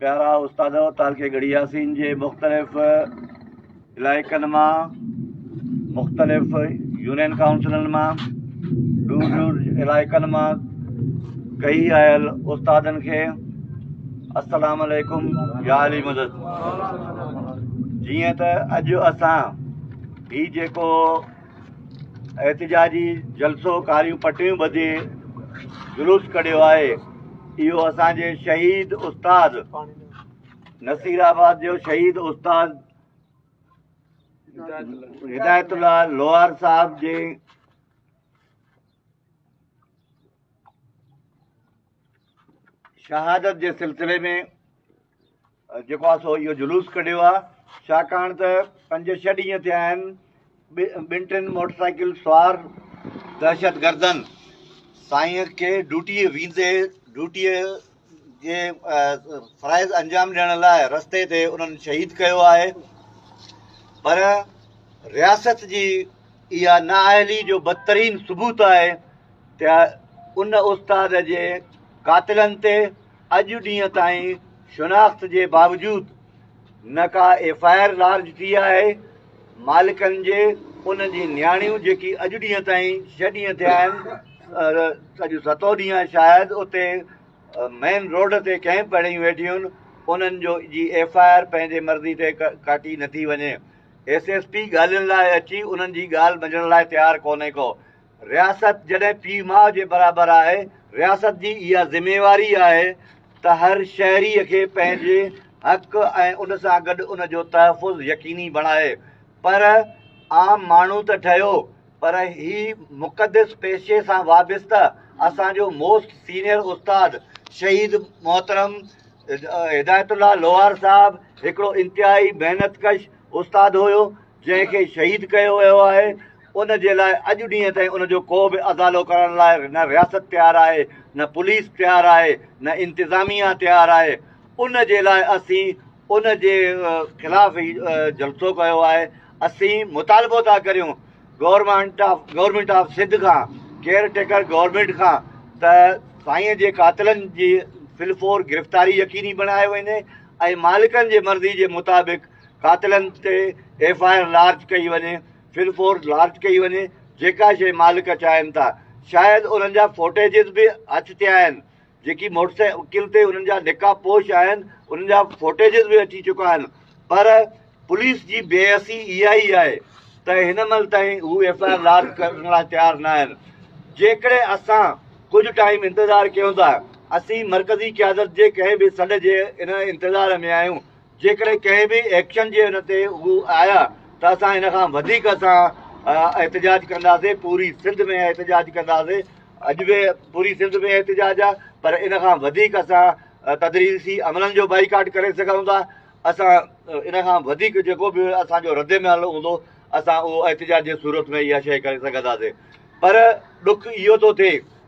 پيارا استادو تعلقي ڳڙهي ياسين جي مختلف علائقن مان مختلف يونين ڪائونسلن مان دور دور علائقن مان ڪئي آيل استادن کي السلام عليڪم يا علي مدد جيئن ته اڄ اسان هي جيڪو احتجاجي جلسو ڪاريون پٽيون ٻڌي جلوس ڪڍيو آهي اهو اسان جي شهيد استاد نصير آباد جو شهيد استاد هدايت الله لوهار صاحب جي شهادت جي سلسلي ۾ جيڪو آ سو اهو جلوس ڪڍيو آ ڇاڪاڻ ته پنج ڇهه ڏينهن ٿيا آهن ٻن ٽن موٽر سائيڪل سوار دهشتگردن سائين کي ڊوٽي ويندي ڊوٽي جي فرائض انجام ڏيڻ لاء رستي تي انهن شهيد ڪيو آهي پر رياست جي اها نااهلي جو بدترين ثبوت آهي ته ان استاد جي قاتلن تي اڄ ڏينهن تائين شناخت جي باوجود نه ڪا ايف آء آر لارج ٿي آهي، مالڪن جي انهن جي نياڻيون جيڪي اڄ ڏينهن تائين ڇهه ڏينهن ٿيا آهن اڄ ستون ڏينهن آهي شايد اتي مين روڊ تي ڪئمپ هڻي ويٺيون آهن انهن جو جي ايف آء آر پنهنجي مرضي تي ڪاٽي نٿي وڃي ايس ايس پي ڳالهين لاء اچي انهن جي ڳالهه ٻڌڻ لاء تيار ڪونهي ڪو. رياست جڏهن پيء ماء جي برابر آهي، رياست جي اها ذميواري آهي ته هر شهري کي پنهنجي حق ۽ ان سان گڏ ان جو تحفظ يقيني بڻائي. پر عام ماڻهو ته ٺهيو پر هي مقدس پيشي سان وابسته اسان جو موسٽ سينيئر استاد شهيد محترم هدايت الله لوهار صاحب هڪڙو انتهائي محنت ڪش استاد هيو، جنهن کي شهيد ڪيو ويو آهي ان جي لاء اڄ ڏينهن تائين ان جو ڪو به ازالو ڪرڻ لاء نه رياست تيار آهي نه پوليس تيار آهي نه انتظاميا تيار آهي ان جي لاء اسين ان جي خلاف هي جلسو ڪيو آهي اسين مطالبو ٿا ڪريون government of government of Sindh کان ڪيئر ٽيڪر گورنمنٽ کان ته سائين جي قاتلن جي فلفور گرفتاري يقيني بڻايو وڃي ۽ مالڪن جي مرضي جي مطابق قاتلن تي ايف آء آر لارج ڪئي وڃي، فل فورس لارج ڪئي وڃي، جيڪا شيء مالڪ چاهين ٿا. شايد انهن جا فوٽيجز به اچ تي آهن، جيڪي موٽرسائيڪل تي انهن جا نقاب پوش آهن، انهن جا فوٽيجز به اچي چڪا آهن، پر پوليس جي بي حسي اها ئي آهي ته هن مهل تائين هو ايف آء آر لارج ڪرڻ لاء تيار نه آهن. جيڪڏهن اسان ڪجهه ٽائيم انتظار ڪيون ٿا، اسين مرڪزي قيادت جي ڪنهن به سڏ جي ان انتظار ۾ آهيون جيڪڏهن ڪنهن به ايڪشن جي ان تي هو آيا ته اسان ان کان وڌيڪ اسان احتجاج ڪنداسين پوري سنڌ ۾ احتجاج ڪنداسين اڄ به پوري سنڌ ۾ احتجاج آ پر ان کان وڌيڪ اسان تدريسي عملن جو بائيڪاٽ ڪري سگهون ٿا اسان ان کان وڌيڪ جيڪو به اسان جو رد عمل هوندو اسان اهو احتجاج جي صورت ۾ اها شيء ڪري سگهنداسين پر ڏک اهو ٿو ٿئي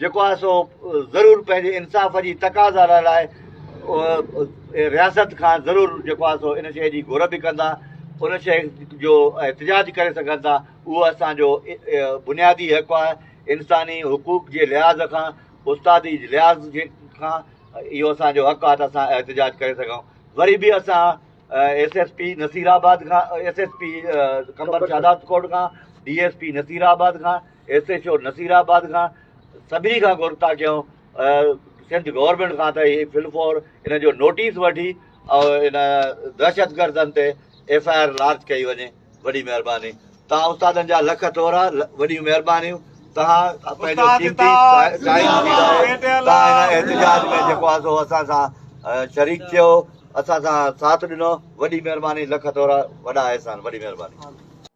جيڪو آهي سو ضرور پنهنجي انصاف جي تقاضا لاء لاء رياست کان ضرور جيڪو آهي سو ان شيء جي گهر به ڪندا ان شيء جو احتجاج ڪري سگهن ٿا اهو اسان جو بنيادي حق آهي انساني حقوق جي لحاظ کان استادي لحاظ جي کان اهو اسان جو حق آهي ته اسان احتجاج ڪري سگهون وري به اسان S S P Nasirabad کان S S P Qambar Shahdadkot کان D S P Nasirabad کان S H O Nasirabad کان سڀني کان گهرتا ڪيون سنڌ گورنمينٽ کان ته هي فل فور ان جو نوٽيس وٺي ان دهشت گردن تي ايف آء آر لارج ڪئي وڃي وڏي مهرباني توهان استادن جا لک ٿورا وڏيون مهربانيون توهان پنهنجو قيمتي ٽائيم ڏيندا توهان هن احتجاج ۾ جيڪو آهي سو اسان سان شريڪ ٿيو اسان سان ساٿ ڏنو وڏي مهرباني لک ٿورا وڏا احسان وڏي مهرباني